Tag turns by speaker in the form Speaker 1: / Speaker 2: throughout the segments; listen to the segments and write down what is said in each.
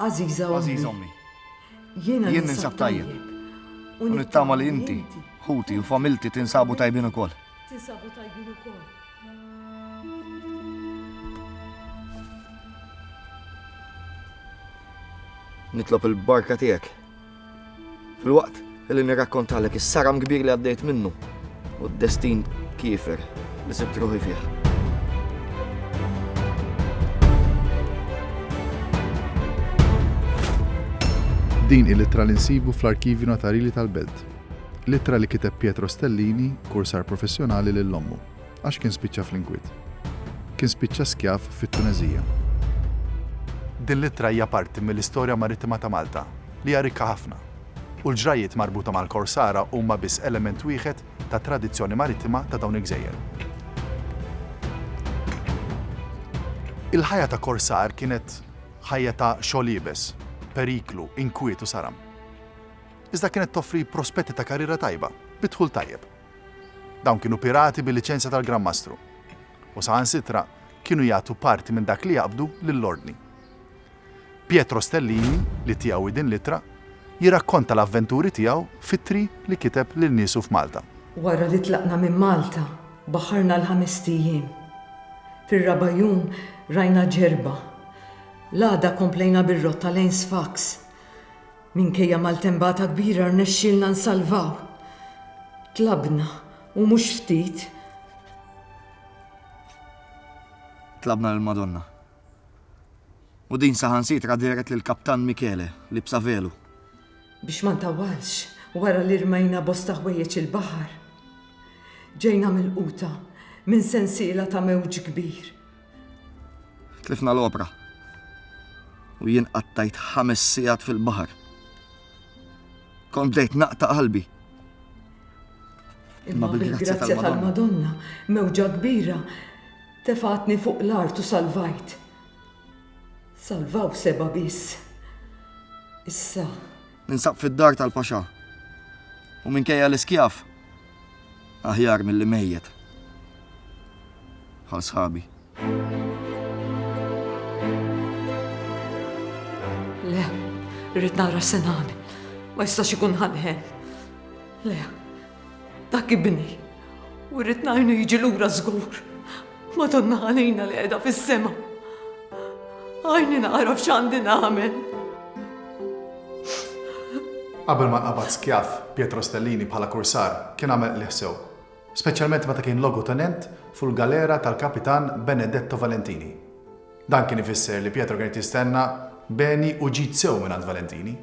Speaker 1: Għażiża Ommi, jien ninsab tajjeb u nittama li inti, ħuti u familti tinsabu tajbin ukoll. Nitlob il-barka tiegħek. Fil-waqt li nirrakkontalek is-saram kbir li għaddejt minnu u d-destin kiefer li sibt ruħi fih. Din il-ittra li nsibu fl-Arkivju Notarili tal-Belt. L-ittra li kiteb Pietro Stellini, kursar professjonali lil ommu, għax kien spiċċa fl-inkwiet. Kien spiċċa skjav fit-Tuneżija. Din l-ittra hija parti mill-istorja marittima ta' Malta, li hija rikka ħafna. U l-ġrajjiet marbuta mal-korsara huma biss element wieħed tat-tradizzjoni marittima ta' dawn il-gżejjer. Il-ħajja ta' korsar kienet ħajja ta' xogħol iebes, periklu, inkwiet u saram. iżda kienet toffri prospetti ta' karriera tajba bi dħul tajjeb. Dawn kienu pirati bil-liċenzja tal-Gran Mastru, u saħansitra kienu jagħtu parti minn dak li jaqbdu lill-Ordni. Pietro Stellini, li tiegħu hi din l-ittra, jirrakkonta l-avventuri tiegħu f'ittri li kiteb lil niesu f'Malta. Wara li tlaqna minn Malta, baħħarna għal ħamest ijiem. Fir-raba' jum rajna Ġerba. L-għada komplejna bir-rotta lejn Sfax. Minkejja maltembata kbira rnexxielna nsalvaw. Tlabna, u mhux ftit. Tlabna lill-Madonna. U din saħansitra dehret lill-Kaptan Michele, liebsa velu. Biex ma ntawwalx, wara li rmejna bosta ħwejjeġ il-baħar, ġejna milquta minn sensiela ta' mewġ kbir. Tlifna l-opra u jien qattajt ħames sigħat fil-baħar. Kont bdejt naqta' qalbi. Imma bil-grazzja tal-Madonna, mewġa kbira, tefatni fuq l-art u salvajt. Salvaw seba' biss. Issa, Ninsab fid-dar tal-paxà. U minkejja li skjav, aħjar milli mejjet bħal sħabi. Le, rrid nara Sinan. Ma jistax ikun ħanħen. Le, Dak ibni, u rrid ngħinu jiġi lura żgur. Madonna għalina li qiegħda fis-sema. Għajni nagħraf x'għandi nagħmel. Qabel ma qabad skjaf Pietro Stellini bħala kursar kien għamel qliħ sew. Speċjalment meta kien logu tenent fuq galera tal-Kapitan Benedetto Valentini. Dan kien ifisser li Pietro kien jistenna beni u ġid sew minn Valentini.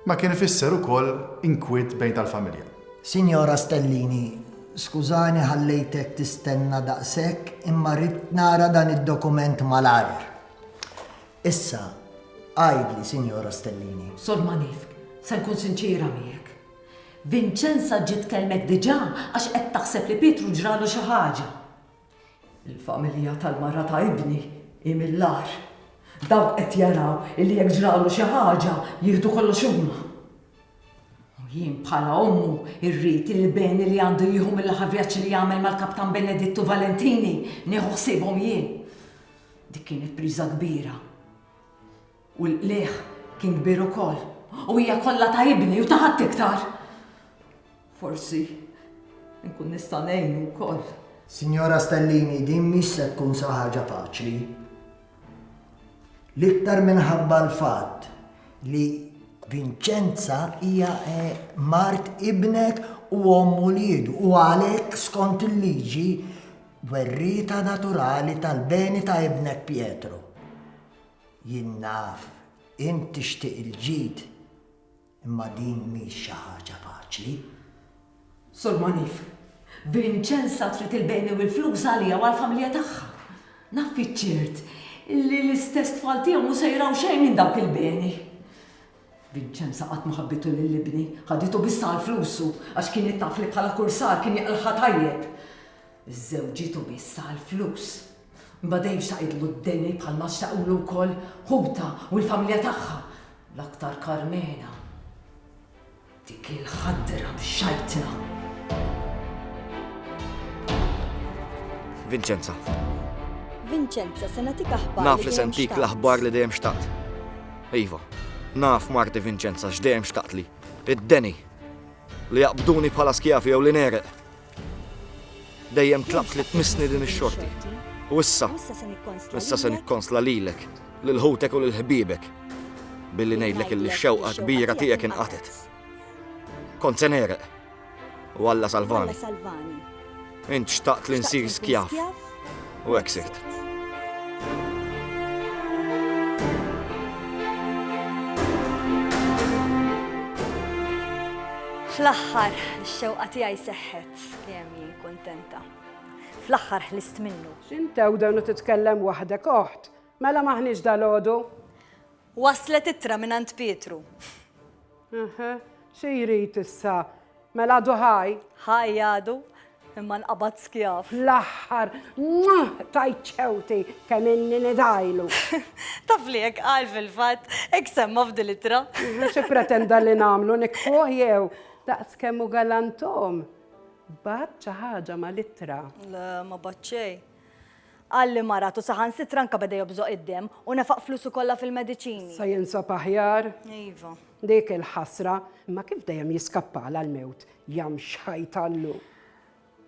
Speaker 1: Ma kien ifisser ukoll inkwiet bejn tal-familja. Sinjora Stellini, skużani ħallejtek tistenna daqshekk imma ridt nara dan id-dokument malajr. Issa, għidli, Sinjora Stellini. Sor Manifk, se nkun sinċiera miegħek. Vinċenza ġiet tkellmek diġà għax qed taħseb li Pietru ġralu xi ħaġa. Il-familja tal-mara ta' ibni hi mill-agħar. Dawk qed jaraw illi jekk ġralu xi ħaġa jieħdu kollox huma. U jien bħala ommu rrid illi beni li għandu jieħu mill-aħħar vjaġġ li għamel mal-Kaptan Benedittu Valentini nieħu ħsiebhom jien. Dik kienet priża kbira. U l-qligħ kien kbir ukoll, u hija kollha ta' ibni u ta' ħadd iktar. Forsi nkun nista' ngħinu wkoll. Sinjora Stellini, din mhix se tkun xi ħaġa faċli. L-iktar minħabba l-fatt li Vinċenza hija eh, mart ibnek u omm uliedu u għalhekk skont il-liġi werrieta naturali tal-beni ta' ibnek Pietro. Jien naf int tixtieq il-ġid imma din mhix xi ħaġa faċli. Sur Monif, Vincenza trid il-beni u l-flus għaliha u għall-familja tagħha. Naf fiċ-ċert li l-istess tfal tiegħu mhu se jraw xejn minn dawk il-beni. Vincenza qatt ma ħabbitu lil ibni, ħaditu biss għal flusu għax kienet taf li bħala kursar kien jaqlagħha tajjeb. Żżewġitu biss għall-flus. Imbagħad dejjem xtaqitlu d-deni bħalma xtaqulu wkoll ħutha u l-familja tagħha, l-aktar Karmena. Dik il-ħadra mxajtna! Vincenza. Vincenza, se nagħtik aħbar. Naf li se ntik l-aħbar li dejjem xtaqt. Iva, naf marti Vincenza x'dejjem xtaqt li. Id-deni. Li jaqbduni bħala skjafi jew li nereq. Dejjem tlabt li tmissni din ix-xorti. U issa, issa se nikkonsla lilek, lil ħutek u lil ħbiebek, billi ngħidlek illi x-xewqa kbira tiegħek inqatet. Kont se nereq, u Alla salvani. Int xtaqt li nsir skjav. U hekk sirt. Fl-aħħar, ix-xewqa tiegħi seħħet li hemm jien kuntenta. Fl-aħħar ħlist minnu. X'intew dan u titkellem waħdek oħt, mela maħniex dalodu? Waslet ittra minn għand Pietru. Eħe, xi jrid issa? Mela għadu ħaj? Ħaj għadu, imma nqabad skjav. Fl-aħħar, mwah, tajt ċewti kemm inni nidajlu. Taf li hekk qal fil-fatt, hekk semma f'dil ittra. Xi pretenda li nagħmlu nikfuh jew daqs kemm hu galantom. Bat xi ħaġa mal-ittra. Le, ma bat xejn. Qal li marat u saħansitra anke beda jobżoq id-demm u nefaq flusu kollha fil-mediċini. Issa jinsab aħjar? Iva. Dik il-ħasra. Imma kif dejjem jiskappala l-mewt, jam xħajtallu!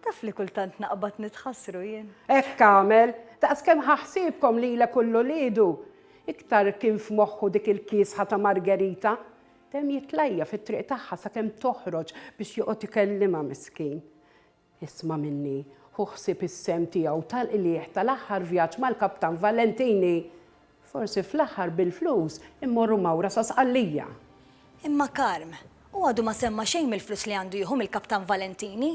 Speaker 1: Taf li kultant naqbad nitħassru jien. Hekk għamel! Daqs kemm ħa ħsiebkom lilek u 'l uliedu! Iktar kien f'moħħu dik il-kiesħa ta' Margherita. Dejjem jitlajja fit-triq tagħha sakemm toħroġ biex joqgħod ikellimha miskin. Isma' minni, ħu ħsieb is-sehem tiegħu tal-qligħ tal-aħħar vjaġġ mal-Kaptan Valentini. Forsi fl-aħħar bil-flus immorru mawra sa Sqallija. Imma Carm, hu għadu ma semma xejn mill-flus li għandu jieħu mill-Kaptan Valentini.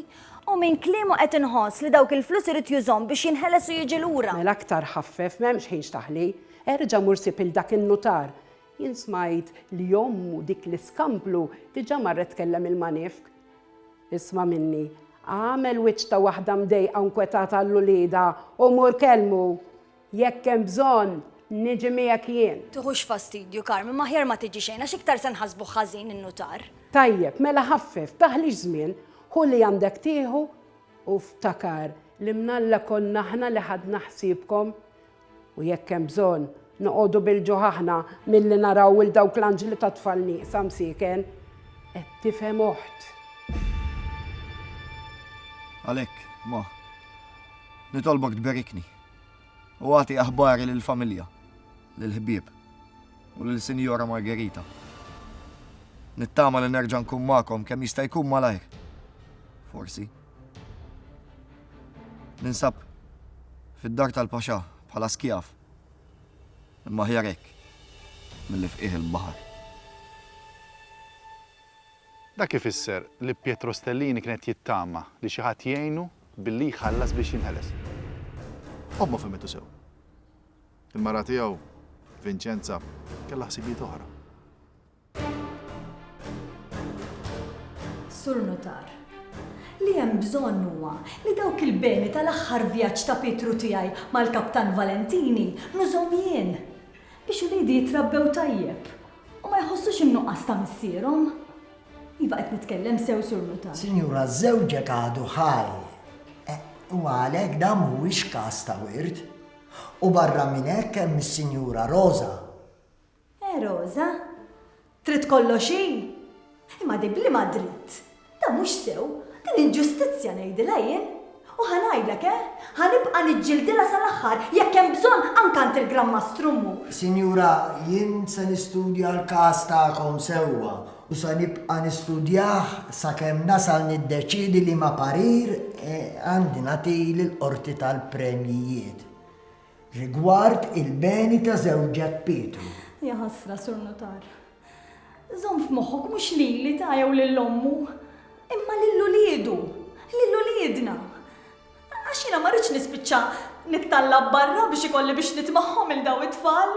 Speaker 1: U minn kliemu qed inħoss li dawk il-flus irid jużhom biex jinħeles u jiġi lura. Mela aktar ħaffef, m'hemmx ħin x'taħli. Erġa' mur sib 'il dak in-nutar. Jien smajt li ommu, dik l-iskamplu, diġà marret tkellem il-manifk. Isma' minni, agħmel wiċċ ta' waħda mdejqa u nkwetata għal uliedha u mur kellmu. Jekk hemm bżonn, niġi miegħek jien. Tiħux fastidju, Carmen, ma aħjar ma tiġi xejn għax iktar se nħassbuh ħażin in-nutar. Tajjeb, mela ħaffef, taħlix żmien, ħu li għandek tieħu u ftakar li mnalla konna aħna li ħadna ħsiebkom U jekk hemm bżonn, noqogħdu bil-ġuħ aħna milli naraw 'il dawk l-anġli tat-tfal nieqsa msieken. Qed tifhem oħt? Għalhekk, Ma, nitolbok tberikni u agħti aħbari lill-familja, lill-ħbieb u lil Sinjora Margherita. Nittama li nerġa' nkun magħkom kemm jista' jkun malajr. Forsi. Ninsab fid-dar tal-paxà bħala skjav, imma aħjar hekk milli f'qiegħ il-baħar. Dak ifisser li Pietro Stellini kien qed jittama li xi ħadd jgħinu billi jħallas biex jinħeles. Ommha fehmitu sew. Il-mara tiegħu, Vinċenza, kellha ħsibijiet oħra. Sur Nutar, li hemm bżonn huwa li dawk il-beni tal-aħħar vjaġġ ta' Pietru tiegħi mal-Kaptan Valentini nużhom jien, biex uliedi jitrabbew tajjeb u ma jħossux in-nuqqas ta' missierhom. Iva qed nitkellem sew, Sur Nutar. Sinjura, żewġek għadu ħaj u għalhekk dan mhuwiex każ ta' wirt. U barra minn hekk hemm is-Sinjura Roża. Eh Rosa? Trid kollox hi? Imma din b'liema dritt? Dan mhux sew, din inġustizzja ngħidilha jien. U ħa ngħidlek, eh, ħa nibqa' niġġildilha sal-aħħar, jekk hemm bżonn anke għand il-Gran Mastru mmur. Sinjura, jien se nistudja l-każ tagħkom sewwa u se nibqa' nistudjah sakemm nasal niddeċiedi liema parir għandi nagħti lill-Qorti tal-Premjijiet. Rigward il-beni ta' żewġek Pietru. Ja ħasra, Sur Nutar. Żomm f'moħħok mhux lili ta jew lil ommu, imma lil uliedu, lil uliedna. Għax jiena ma rridx nispiċċa nittallab barra biex ikolli biex nitmagħhom lil dawn it-tfal.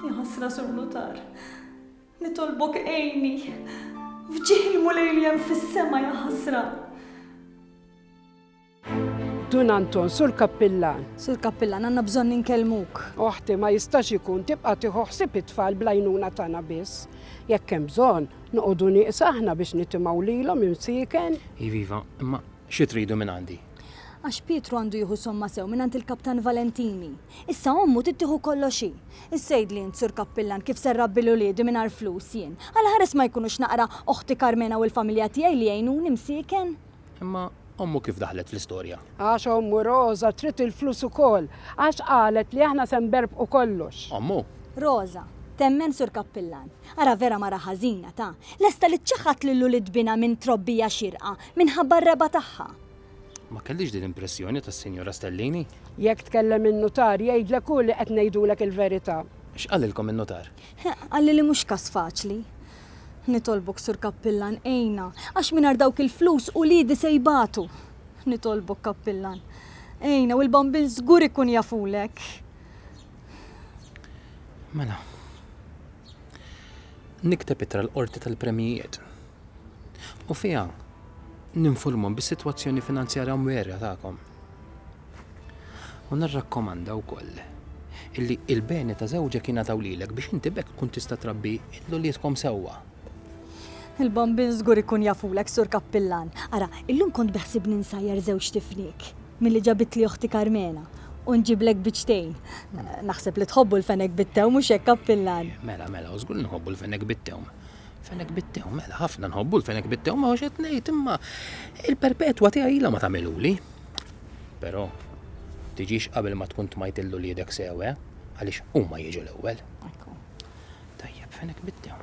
Speaker 1: Ja ħasra, Sur Nutar. Nitolbok għejni. F'ġieħ il-Mulej li hemm fis-sema ja ħasra. Dun Anton, Sur Kappillan. Sur Kappillan, għandna bżonn inkellmuk. Oħti, ma jistax ikun tibqa' tieħu ħsieb it-tfal bl-għajnuna tagħna biss. Jekk hemm bżonn, noqogħdu nieqsa aħna biex nitimgħu lilhom imsieken. Iva, iva, imma xi tridu minn għandi? Għax Pietru għandu jieħu somma sew mingħand il-Kaptan Valentini. Issa ommu trid tieħu kollox hi. Issejdli int, Sur Kappillan, kif se nrabbi 'l uliedi mingħajr flus jien? Għalaħeres ma jkunux naqra oħti Karmena u l-familja tiegħi li jgħinuni msieken? Imma ommu kif daħlet fl-istorja? Għax ommu Roża trid il-flus ukoll, għax qalet li aħna se nberbqu kollox. Ommu? Roża, temmen Sur Kappillan. Ara vera mara ħażina, ta! Lesta li ċċaħħad lil ulied binha minn trobbija xierqa, minħabba r-regħba tagħha. Ma kellix din l-impressjoni tas-Sinjura Stellini. Jekk tkellem in-nutar jgħidlek hu li qed ngħidulek il-verità. X'qalilkom in-nutar? Qalli li mhux każ faċli. Nitolbok, Sur Kappillan, għinna, għax mingħajr dawk il-flus uliedi se jbatu. Nitolbok, Kappillan, għinna u l-bambin żgur ikun jafulek. Mela, nikteb itra l-qorti tal-premijiet u fiha ninfurmhom bis-sitwazzjoni finanzjarja mwerja tagħkom. U nirrakkomanda wkoll illi il-beni ta' żewġek jingħataw lilek biex inti b'hekk tkun tista' trabbi l-uliedkom sewwa. Il-bambin żgur ikun jafulek, Sur Kappillan. Ara, illum kont beħsibni nsajjar żewġt ifniek milli ġabitli oħti Karmena u nġiblek biċtejn. Naħseb li tħobbu l-fenek bit-tewm, mhux hekk, Kappillan? Mela, mela, u żgur li nħobbu l-fenek bit-tewm. Fenek bit-tewm, mela, ħafna nħobbu l-fenek bit-tewm, ma hux qed ngħid, imma il-perpetwa tiegħi ilha ma tagħmilhuli. Però, tiġix qabel ma tkun tmajt lil uliedek sew, eh? Għaliex huma jiġu l-ewwel. Ekku. Tajjeb, fenek biddew.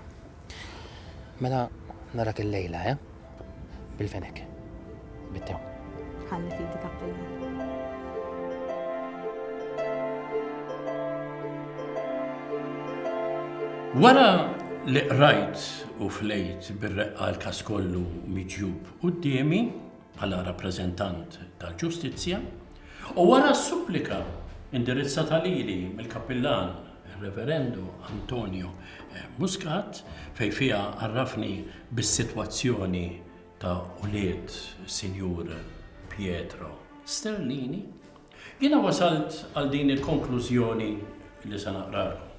Speaker 1: Mela narak il-lejla, eh? Bil-fenek. Biddew. Ħalli fidi kappilla. Wara li qrajt u flejt bir-reqqa l-każ kollu miġjub quddiemi, bħala rappreżentant tal-ġustizzja, u wara s-supplika indirizzata lili mill-Kappillan Reverendu Antonio Muscat fejn fiha għarrafni bis-sitwazzjoni ta' ulied Sinjur Pietro Sterlini, jiena wasalt għal din il-konklużjoni li se naqralkom.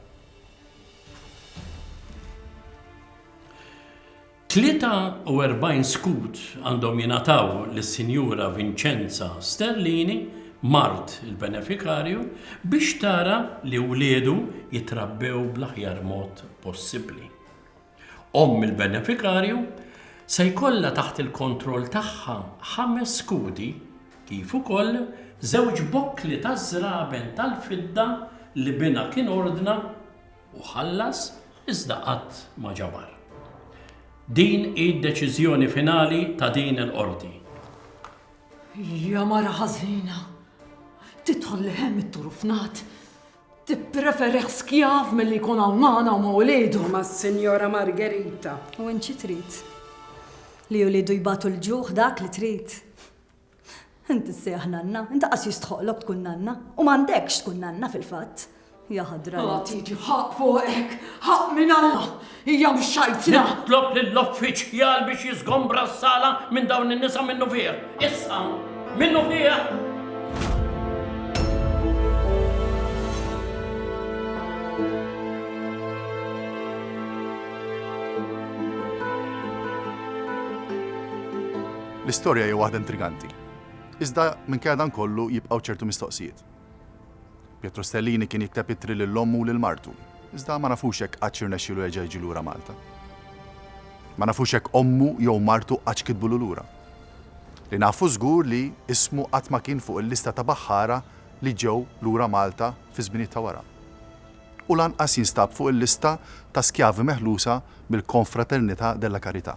Speaker 1: 43 skud għandhom jingħataw lis-Sinjura Vincenza Sterlini, mart il-benefikarju, biex tara li wliedu jitrabbew bl-aħjar mod possibbli. Omm il-benefikarju se jkollha taħt il-kontroll tagħha ħames skudi kif ukoll żewġ bokkli taż-żraben tal-fidda li binha kien ordna, u ħallas iżda qatt ma ġabar. Din hi d-deċiżjoni finali ta' din il-Qorti. Hija mara ħażina. Tidħol leħen mit-turu fnad. Tippreferih skjav milli jkun hawn magħna u ma' wliedu. Ma' Sinjora Margherita. U int xi trid? Li wliedu jbatu l-ġuħ dak li trid. Int issejjaħ nanna, int qas jistħoqlok tkun nanna, u m'għandekx tkun nanna fil-fatt. Ja ħadra. Għala tieġi ħaqq fuqek, ħaqq minn Alla, hija mhux xajtna. Nitlob lill-uffiċjal biex jiżgombra s-sala minn dawn in-nisa minnufih. Issa, minnufih! L-istorja hija waħda intriganti. Iżda minkejja dan kollu jibqgħu ċertu mistoqsijiet. Pietro Stellini kien jikteb ittri lil ommu u lil martu, iżda ma nafux jekk qattx irnexxielu jerġa' jiġi lura Malta. Ma nafux jekk ommu jew martu qattx kitbulu lura. Li nafu żgur li ismu qatt ma kien fuq il-lista ta' baħħara li ġew lura Malta fiż-żminijiet ta' wara. U lanqas jinstab fuq il-lista ta' skjavi meħlusa mill-Confraternità della Carità.